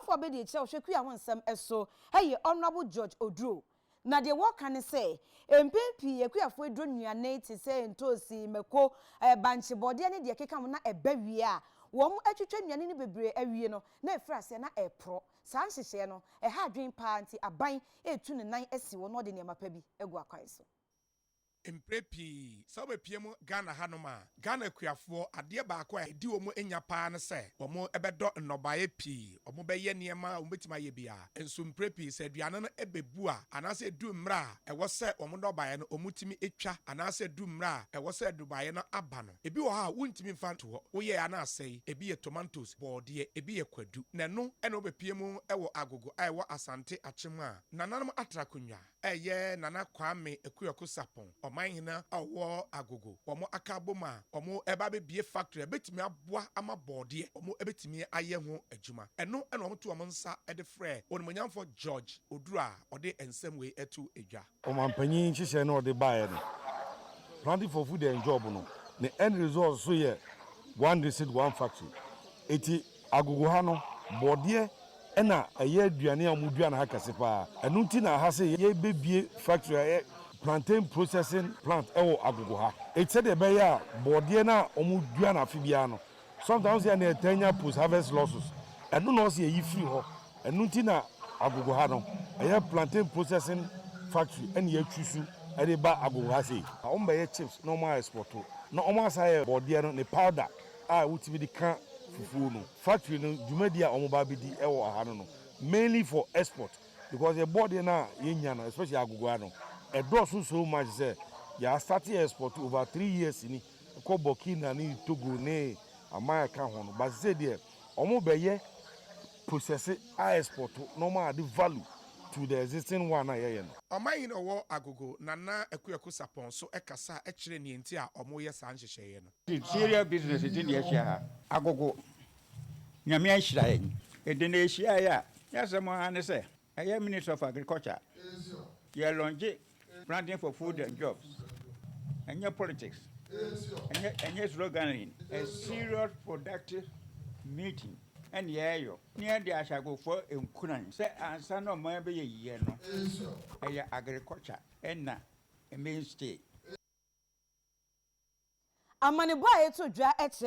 Fo a bedi akyire a ɔhwɛ kua ho nsɛm so yɛ Honourable George Oduro. Na deɛ wɔka ne sɛ, mpɛn pii akuafoɔ aduro nnuane te sɛ ntoosi, mako, bankye, bɔdeɛ ne deɛ ɛkeka ho na ɛba wie a, wɔn atwitwa nnuane no bebree awie no na ɛfiri aseɛ na ɛreporɔ. Saa nhyehyɛɛ no, ɛha adwene paa nti aban retu ne nan asi hɔ na ɔde nneɛma pa bi agu akwan so. Mprɛ pii, sɛ wobɛpie mu Ghana ha nom a, Ghana akuafoɔ, adeɛ baako a ɛdi wɔn nya pa ara ne sɛ, wɔn bɛdɔ nnɔbaeɛ pii, wɔn bɛyɛ nneɛma a wɔn bɛtumi ayɛ biara. Nso mprɛ pii sɛ aduane no bɛbu a, anaasɛ ɛduru mmerɛ a ɛwɔ sɛ wɔn nnɔbaeɛ no wɔn tumi twa, anaasɛ ɛduru mmerɛ a ɛwɔ sɛ nnɔbaeɛ no aba no, ɛbi wɔ hɔ a wontumi mfa nto hɔ, wo yɛɛ a na asɛe, ɛbi yɛ tomantos, bɔɔdeɛ, ɛbi yɛ kwadu. Na ɛno na wobɛpie mu wɔ Agogo a ɛwɔ Asante Akyem a nananom atra akonnwa. Ɛyɛ Nana Kwame Akuaku Sarpong, Ɔmanhene a ɔwɔ Agogo, wɔn aka abom a wɔreba abɛbue factory a ɛbɛtumi aboa ama bɔɔdeɛ wɔbɛtumi ayɛ ho adwuma. Ɛno na wɔto wɔn nsa de frɛ Onimuonyamfo George Oduro a ɔde nsɛm wei ato dwa. Ɔmanpanyin nhyehyɛe no a ɔde baeɛ no, Planting for Food and Job no, ne end result nso yɛ One District, One Factory. Enti Agogo ha no, borɔdeɛ na ɛyɛ aduane a wɔdua no ha kɛse pa ara. Ɛno nti na ha se yɛrebɛbue factory a ɛyɛ plantain processing plant wɔ Agogo ha. Enti sɛdeɛ ɛbɛyɛ a borɔdeɛ no a wɔdua no afe biara no, sometimes wo sɛ yɛn deɛ yɛtaa nya post harvest losses, ɛno na wɔse yɛyi firi hɔ. Ɛno nti na Agogo ha no, ɛyɛ plantain processing factory na yɛatwusu de ba Agogo ha sei. Wɔbɛyɛ chips na wɔaexport, na wɔasan ayɛ borɔdeɛ no ne powder. a wotumi de ka fufuo no factory no dwumadi a wɔn ba abɛdi wɔ aha no no mainly for export because yɛ bɔɔdeɛ no a yɛnya no especially agogoa no ɛdɔɔso so much sɛ yɛ asate export over three years ni kɔ Burkina ne Togo ne aman ɛka ho no but sɛ deɛ wɔn bɛyɛ process a export na wɔn ade value to the existing one a yɛyɛ no. Ɔmanhene Ɔwɔ Agogo, Nana Akuaku Sarpong nso kasaa kyerɛɛ nea enti a wɔreyɛ saa nhyehyɛeɛ no. Serial business nti na yɛahyia ha. Agogo, Nyame anhyira yɛn. Ede na yɛhyiaeɛ a, ne asɛm ara ne sɛ, ɛyɛ Ministry of Agriculture, yɛ launche planting for food and jobs. Ɛnyɛ politics, ɛnyɛ ɛnyɛ sloganeering, a serious productive meeting ɛna yɛreyɔ na yɛde ahyɛ agogofoɔ nkuran sɛ ansa na ɔman bɛyɛ yiye no, ɛyɛ agriculture ɛna Maine State. Amanebɔ a ɛto dwa kyerɛ